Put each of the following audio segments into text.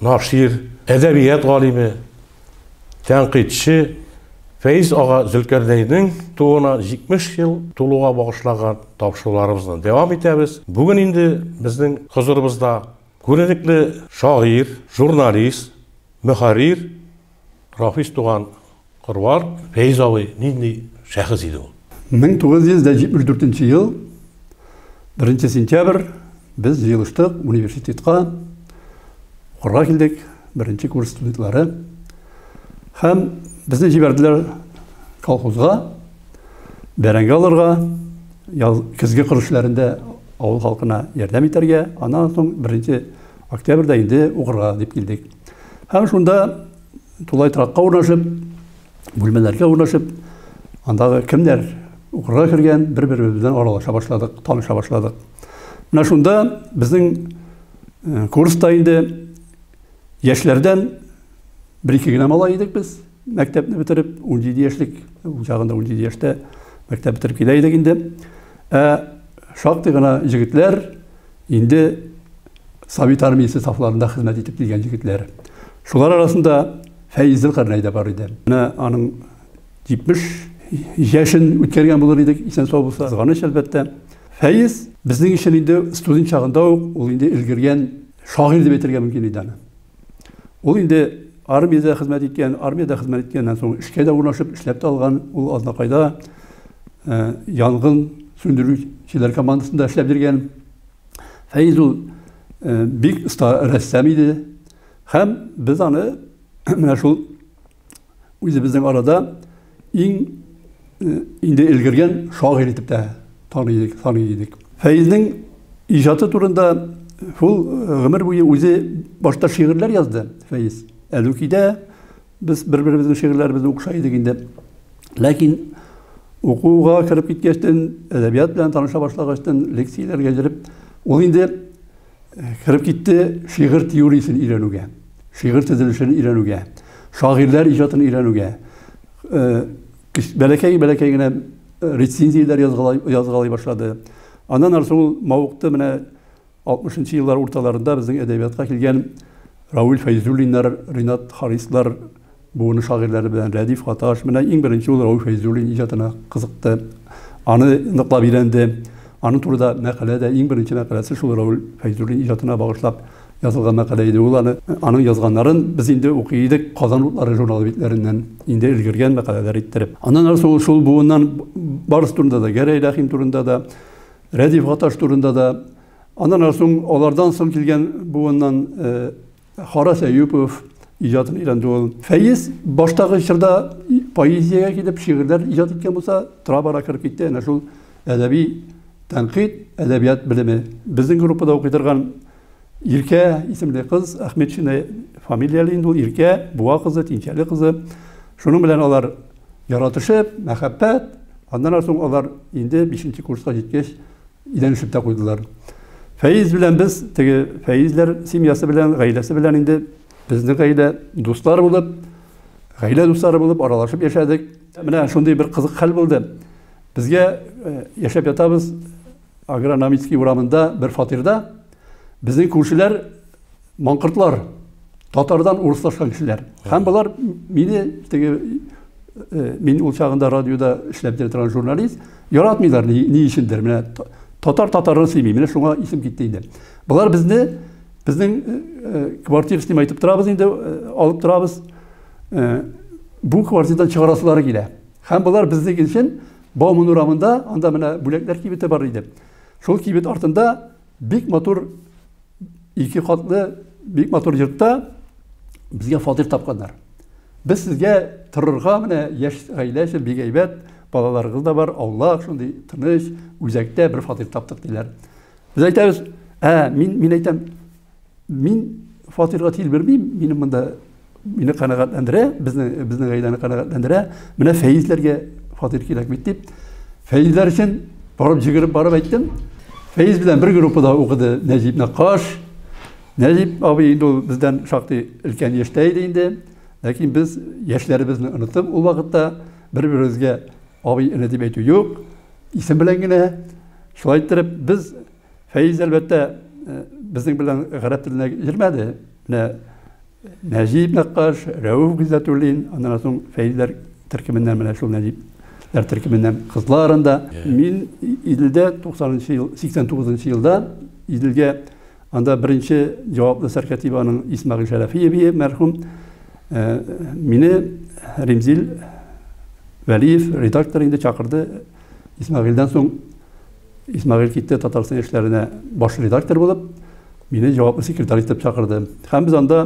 Нашир, әдәбият галиме, тәнкыйтьче Фәиз ага Зөлкәрнәйнең тууына 70 ел тулуга багышлаган тапшыруларыбызны дәвам итәбез. Бүген инде безнең хозурыбызда күренекле шагыйрь, журналист, мөхәррир Рафис туган кыруар Фәиз абый нинди шәхес иде ул? 1974 ел 1 сентябрь без җыелыштык университетка укырга килдек беренче курс студентлары һәм безне җибәрделәр колхозга бәрәңге алырга яз көзге кыр эшләрендә авыл халкына ярдәм итәргә аннан соң беренче октябрьдә инде укырга дип килдек Һәм шунда тулай торакка урнашып, бүлмәләргә урнашып, андагы кемнәр укырга кергән, бер-беребез белән аралаша башладык, таныша башладык. Менә шунда безнең э, курста инде яшьләрдән бер-ике генә малай идек без, мәктәпне бетереп, 17 яшьлек, ул чагында 17 яшьтә мәктәп бетереп килә идек инде. Ә шактый гына егетләр, Инде Совет армиясе сафларында хезмәт итеп килгән егетләр. Шулар арасында Фәиз Зөлкарнәй дә бар иде. Менә аның 70 яшен үткәргән булыр идек, исән сау булса. Кызганыч, әлбәттә. Фәиз безнең өчен инде студент чагында ук ул инде өлгергән шагыйрь дип әйтергә мөмкин иде аны. Ул инде армиядә хезмәт иткән, армиядә хезмәт иткәннән соң эшкә дә урнашып, эшләп тә алган. Ул Азнакайда э, янгын сүндерүчеләр командасында эшләп йөргән. Фәиз ул э, бик оста рәссам иде. Һәм без аны менә шул үзебезнең арада иң э, инде өлгергән шагыйрь итеп тә таный идек, таный идек. Фәйзнең иҗаты турында шул э, гомер буе үзе башта шигырьләр язды Фәйз. Әлүкидә без бер-беребезнең шигырьләребезне укыша идек инде. Ләкин укуга кереп киткәчтен, әдәбият белән таныша башлагачтын, лекцияләргә йөреп, ул инде Кереп китте шигырь теориясен өйрәнүгә, шигырь төзелешен өйрәнүгә, шагыйрьләр иҗатын өйрәнүгә. Бәләкәй-бәләкәй генә рецензияләр язгалый башлады. Аннан ары ул мавыкты, менә 60 еллар урталарында безнең әдәбиятка килгән Равил Фәйзуллиннар, Ринат Харислар, Буыны шагыйрьләре белән Рәдиф Гаташ менә иң беренче ул Рауил Фәйзуллин иҗатына кызыкты, аны ныклап өйрәнде. Аның турыда мәкалә дә, иң беренче мәкаләсе шул Рауил Фәйзуллин иҗатына багышлап язылган мәкалә иде ул. Аны, аның язганнарын без инде укый идек Казан утлары журналы битләреннән, инде өлгергән мәкаләләр иттереп. Аннан ары соң ул шул буыннан барысы турында да, Гәрәй Рәхим турында да, Рәдиф Гаташ турында да, аннан ары соң алардан соң килгән буыннан, Харас Әюпов иҗатын өйрәнде ул. Фәиз баштагы чорда поэзиягә килеп, шигырьләр иҗат иткән булса, тора-бара кереп китте әнә шул әдәби тәнкыйть, әдәбият белеме. Безнең группада укый торган Иркә исемле кыз, Әхмәтшина фамилияле инде ул, Иркә, Буа кызы, Тинчәле кызы. Шуның белән алар яратышып, мәхәббәт, аннан соң алар инде 5 курска җиткәч, Идән ишеп тә куйдылар. Фәиз белән без, теге Фәизләр семьясы белән, гаиләсе белән инде безнең гаилә дуслар булып, гаилә дуслары булып аралашып яшәдек. Менә шундый бер кызык хәл булды. Безгә э, яшәп ятабыз Агрономический урамында бер фатирда. Безнең күршеләр Маңкыртлар татардан урыслашкан кешеләр. Һәм болар мине теге э, мин ул чагында радиода эшләп торган журналист яратмыйлар ни, ни өчендер. Менә татар татарны сөйми. Менә шуңа исем китте инде. Болар безне безнең э, э, квартира снимай итеп торабыз инде, алып торабыз. Бу квартирадан чыгарасылары килә. Һәм болар безнең өчен Бауман урамында анда менә бүләкләр кибете бар иде. Шул кибет артында Бик матур ике катлы бик матур йортта безгә фатир тапканнар. Без сезгә торырга менә яшь гаилә өчен бик әйбәт, балаларыгыз да бар, аулак, шундый тыныч, үзәктә бер фатир таптык диләр. Без әйтәбез, ә мин мин әйтәм, Мин фатирга тиел бермим, мине монда мине канәгатьләндерә, безне безнең гаиләне канәгатьләндерә. Менә Фәизләргә фатир кирәк бит дип. Фәизләр өчен барып җигереп барып әйттем. Фәиз белән бер группада укыды Нәҗип Накаш. Нәҗип абый инде ул бездән шактый өлкән яшьтә иде инде. Ләкин без яшьләребезне онытып ул вакытта бер-беребезгә абый эне дип әйтү юк. Исем белән генә шулай иттереп без Фәиз, әлбәттә, безнең белән гарәп теленә йөрмәде. Менә Нәҗип Нәккаш, Рәүф Гыйззәтуллин, аннан соң Фәизләр төркеменнән менә шул Нәҗип Ләр төркеменнән кызлар анда. Мин Иделдә 90-нчы ел, 89-нчы елда Иделгә анда беренче җаваплы сәркәтибаның Исмагыйль Шәрәфиеве мәрхүм мине Римзил Вәлиев редактор инде чакырды. Исмагыйльдән соң Исмәгыйль китте Татарстан яшьләренә баш редактор булып, мине җаваплы секретарь итеп чакырды. Һәм без анда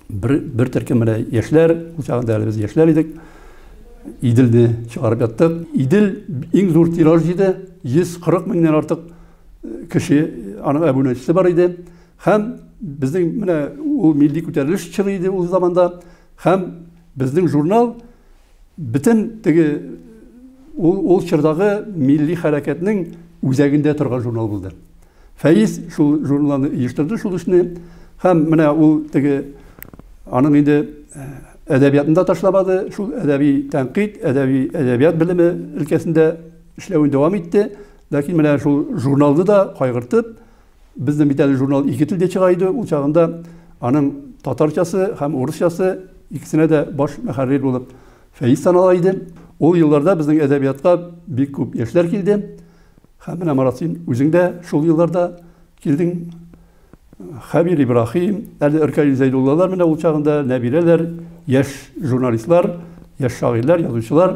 бер, бер төркем менә яшьләр, ул чагында әле без яшьләр идек, Иделне чыгарып яттык. Идел иң зур тираж җыйды, 140 меңнән артык э, кеше, аның әбүнәчесе бар иде. Һәм безнең менә ул милли күтәрелеш чоры иде ул заманда. Һәм безнең журнал Бөтен теге ул, ул чордагы милли хәрәкәтнең үзәгендә торган журнал булды. Фәиз шул журналны оештырды шул эшне һәм менә ул теге аның инде э, әдәбиятын да ташламады, шул әдәби тәнкыйть, әдәби әдәбият белеме өлкәсендә эшләвен дәвам итте. Ләкин менә шул журналны да кайгыртып, Бездә бит әле журнал ике телдә чыга иде, ул чагында аның татарчасы һәм урысчасы икесенә дә баш мәхәррир булып Фәиз санала иде. Ул елларда безнең әдәбиятка бик күп яшьләр килде. Һәм менә Марат син үзең дә шул елларда килдең. Хәбир Ибрахим, әле Иркәлил Зәйдуллалар менә ул чагында, Нәбирәләр, яшь журналистлар, яшь шагыйрьләр, язучылар.